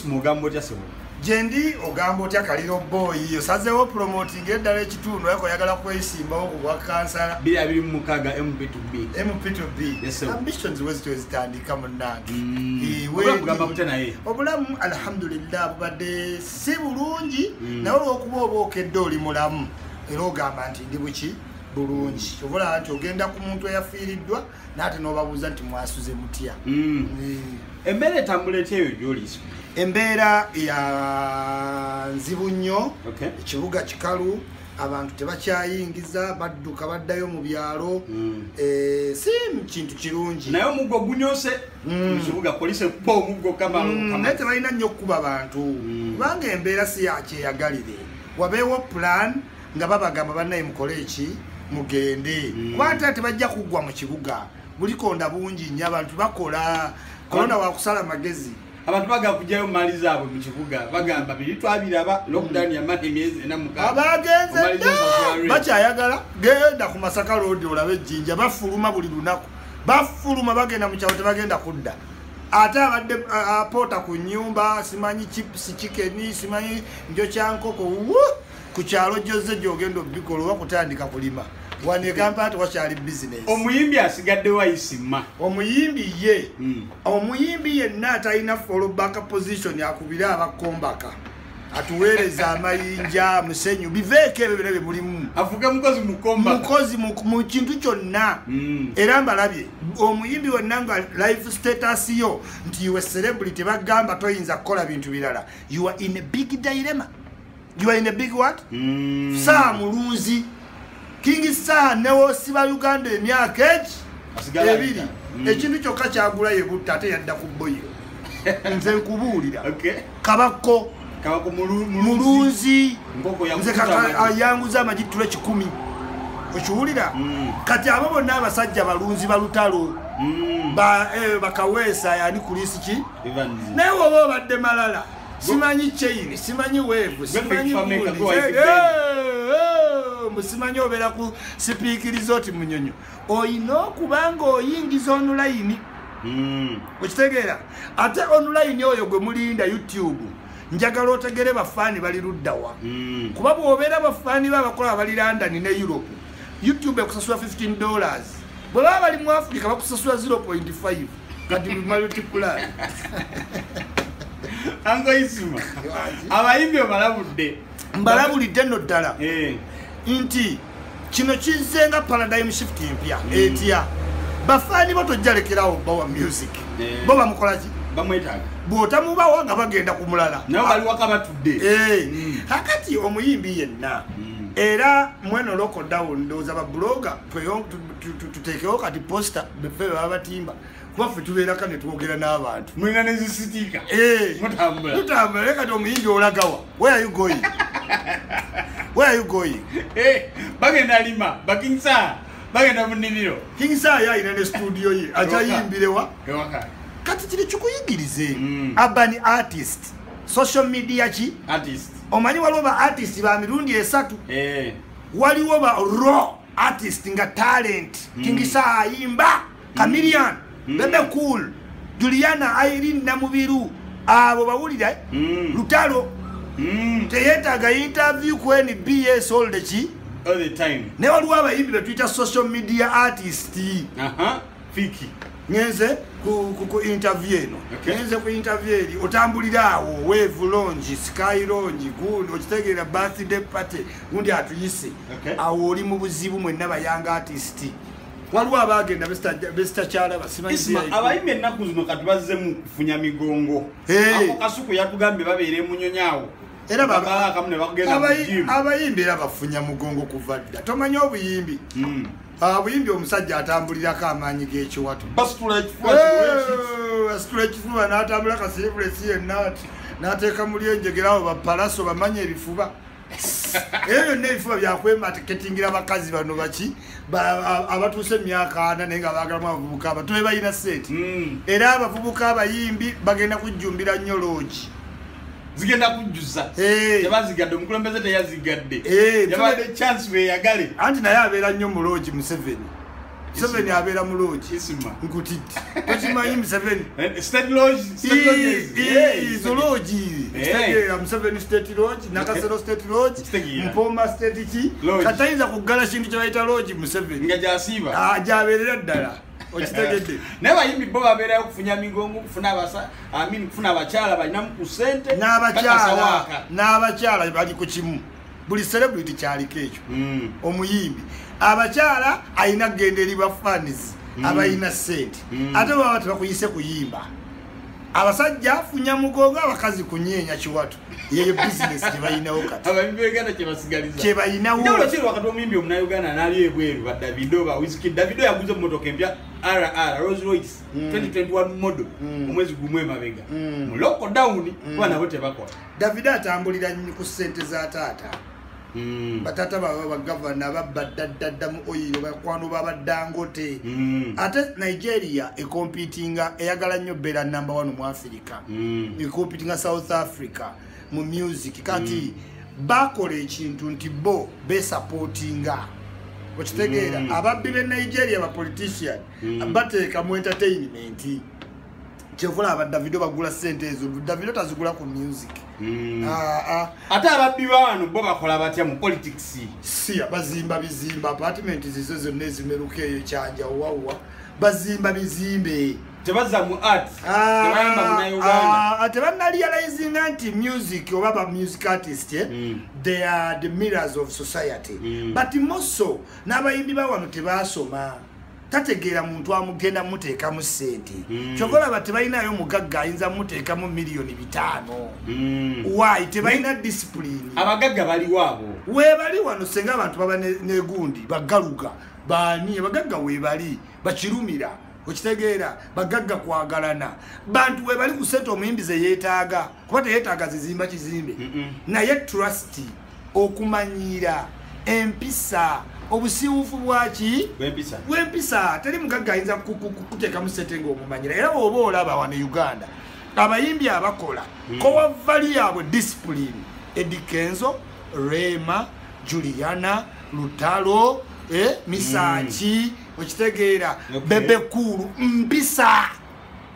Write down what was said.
mugambo otya sebo gyendi ogamba otya kaliro boyi osazeewo promoting eddala ekitundu ayeko oyagala kwesimbawo ku bwa kansala mp2bmp2bambitions wezito ezitandika munange mm. obulamu alhamdulillah bubadde si bulungi mm. nawe olwokuba oba okedde oli mulamu era ogamba nti ndi buki bulungi obulaba nti ogenda ku muntu eyafiiriddwa nate nobabuuza nti mwasuze mutya mm. eh. embeera etambula etya eyo gyoliisa embeera ya nzibu nnyo ekibuga kikalu abantu tebakyayingiza badduka baddayo mu byalo mm. eh, si kintu kirungi naye omuggo gunyose mm. mukibuga polisi ekuba omuggo kamanaye tebalina nnyo okukuba bantu kubanga embeera si yakyeyagalire wabeewo pulaani nga babagamba banaye mukole eki mugende mm. kubata tebajja kuggwa mu kibuga bulikonda bungi nyo abantu bakola kolona wakusala magezi abantu baga kujayo mali zaabwe mu kibuga bagamba biri twabiraba lockdown yamala emyezi ena mukabagenze bakyayagala genda ku masaka loodi olaba ejjinja bafuluma buli lunaku bafuluma bagenda mu kyalo tebagenda kudda ate abadde apoota ku nyumba simanyi chips chicken simanyi njo kyankoko ku kyalo gyozze gyogenda obikola oba kutandika kulima wano egampala tewakyali bizinesi omuyimbi asigadde wayisima omuyimbi ye hmm. omuyimbi yenna atalina fallback position akubire abakombaka atuweereza amayinja musenyu biveeko ebyo byona bye mulimu avuga mukozi mukombamukozi mu kintu kyonna hmm. era mbalabye omuyimbi wonna nga life status yo nti iwe celebrity bagamba toyinza kukola bintu birala you are in a big dilemma you are in a big what mm. saa mulunzi king saa newosiba uganda emyaka egi ebiri mm. ekintu kyokka kyagula yebutta ate yadda ku boyo nze nkubuulira kabakko mulunzi nze ayanguza amagi tula kikumi okiwulira mm. kati abo bonna abasajja balunzi balutalo mm. eh, bakaweesa yani kulisi ki naye woba obadde malala simanyi chain simanyi wave simanyi musimanyi obeera ku sipiikiriza oti munyonyo olina okuba nga oyingiza onulayini hmm. okitegeera ate onulayini oyo gwe mulinda youtube njagala otegere bafaani bali luddawa hmm. kuba bwobeera bafaani be abakola bali london ne europe youtube ekusasula 15 dollars bwe baba bali mu africa bakusasula 0.5 kati multiply angoisima abayimbi obalabudde mbalabulidde nno ddala eh. nti kino kizze nga paradigm shift empya mm. etya bafaani bo tojjalekerawo bawa music eh. bo bamukolaki bamwetaaga bwotamubawa nga bagenda ku mulala nawe baliwakabatudde eh. mm. kakati omuyimbi yenna mm. era mweno loko down ndoza ba blogger tweyo tutekewo kati poster befe baba batimba kuba fe tubeera kane twogera n'abantu mulina nezisitika eh, mutambula mutambula leka ti omuyinja olagawa where are you going where are you going eh, bagenda lima bakinsa bagenda munimiro kinsa yo ayina ne studio ye akyayimbirewa kati kiri kikuyigirize mm. urban artist social media ki artist omanyi waliwo ba artist ba mirundi esatu eh waliwo ba raw artist nga talent mm. kingisa ayimba chameleon mm. bebe cool juliana irene namubiru abo bawulira eh? mm. lutalo mm. teyetaga interview kweni bs all the ki all the time ne waliwo abayimbi betuyita social media artist uh -huh. fiki ngenze ku interview eno ngenze ku interview eri otambulira awo wave longi sky longi gundi okitegeera birthday party gundi atuyise awo oli mu buzibu mwenna bayanga artisti waliwo abagenda besitakyalaba siabayimba ennaku zino kati bazzemu kufunya migongo ako kasuku yatugambye babeera emunyonyi awo abayimbi era bafunya mugongo kuva dda tomanya obuyimbi hmm. Ah, buyimbi omusajja atambulirako amaanyi g'ekiwato asitula ekifuba n'atambula kasirivulesi yenna ati n'ateeka muli enjegera awo bapalaso bamanya ebifuba eyo yonna ebifuba byakwemaketingira abakazi bano baki abatuuse emyaka ana naye nga baagalamu abavubuka abato be balina seeti hmm. era abavubuka abayimbi bagenda kujjumbira nnyo loogi zigenda kujjuza tebazigadde omukulembeze teyazigadde yabadde chance beyagale anti naye abeera nnyo mu loogi museveni museveni abeera mu loogi nkutidde tokimanyi museveni eh, eh, izo loogi kitegeera museveni state loogi nakasero eh. state loogi mpooma state ki katayinza kuggala kintu kyebayita loogi museveni ah, gyabeerera ddala okitegedde eh, naye bayimbi bo babeerayo okufunya migongo okufuna abasa amin okufuna abakyala balinamu ku sente n'abakyala n'abakyala bali ku kimu buli celebrity kyaliko ekyo hmm. omuyimbi abakyala alina kugenda eri bafanis hmm. abalina sente hmm. ate baba tebakuyise kuyimba abasajja afunya mugogo abakazi kunyeenya kiwatu yeyo bisinesi kyebalinawo katikyebaliinawokyebalinawoomuyimbi omunauganda nalyo ebweru ba davido ba wiski davido yaguza omumotoka empya rr rose royce 2021 mm. model mm. omwezi gumu emabega mm. mu lockdown kuba nabo tebakola davido atambulira ku sente za taata Mm. batata baba bagavana babba ddaddadda mu oyiro bakwano babaddangote mm. ate nigeria ekompitinga eyagala nnyo beera namba one mu afirika mm. ekompitinga south africa mu music kati bakola ekintu nti bo besapotinga okitegeera ababbi be nigeria bapolitician bateeka mu entertainment kyevula aba davido bagula sente ezo davido tazigula ku music hmm. ah, ah. ate ababbi baano bo bakola batya mu politics siya bazimba bizimba apartment zizo zonna ezimeruka eyo kyanja wawa bazimba bizimbe tebaza mu art ah, tebayamba munauganda tebanalializinga nti music oba ba music artist eh? hmm. they are the mirrors of society hmm. but moso n'abayimbi bawano tebasoma tategeera muntu amugenda muteekamu sente hmm. kyova olaba tebalinayo mugagga ayinza muteekamu miliyoni bitaano hmm. wayi tebalina disipulini abagagga baliwaabo webali wano senga abantu baba negundi bagaluga baani abagagga webali bakirumira okitegeera bagagga kwagalana bantu webali kusente omuyimbi zeyetaaga kuba teyetaaga zizimba kizimbe naye trusty okumanyiira empisa obusiiwufu bwaki bwempisa teri mugagga ayinza kuteekamu sente ngaomumanyira era oba olaba wano e uganda abayimbi abakola hmm. kowavali yaabwe discipline edikenzo rema juliana lutalo eh, misaki hmm. okitegeera bebekuulu mpisa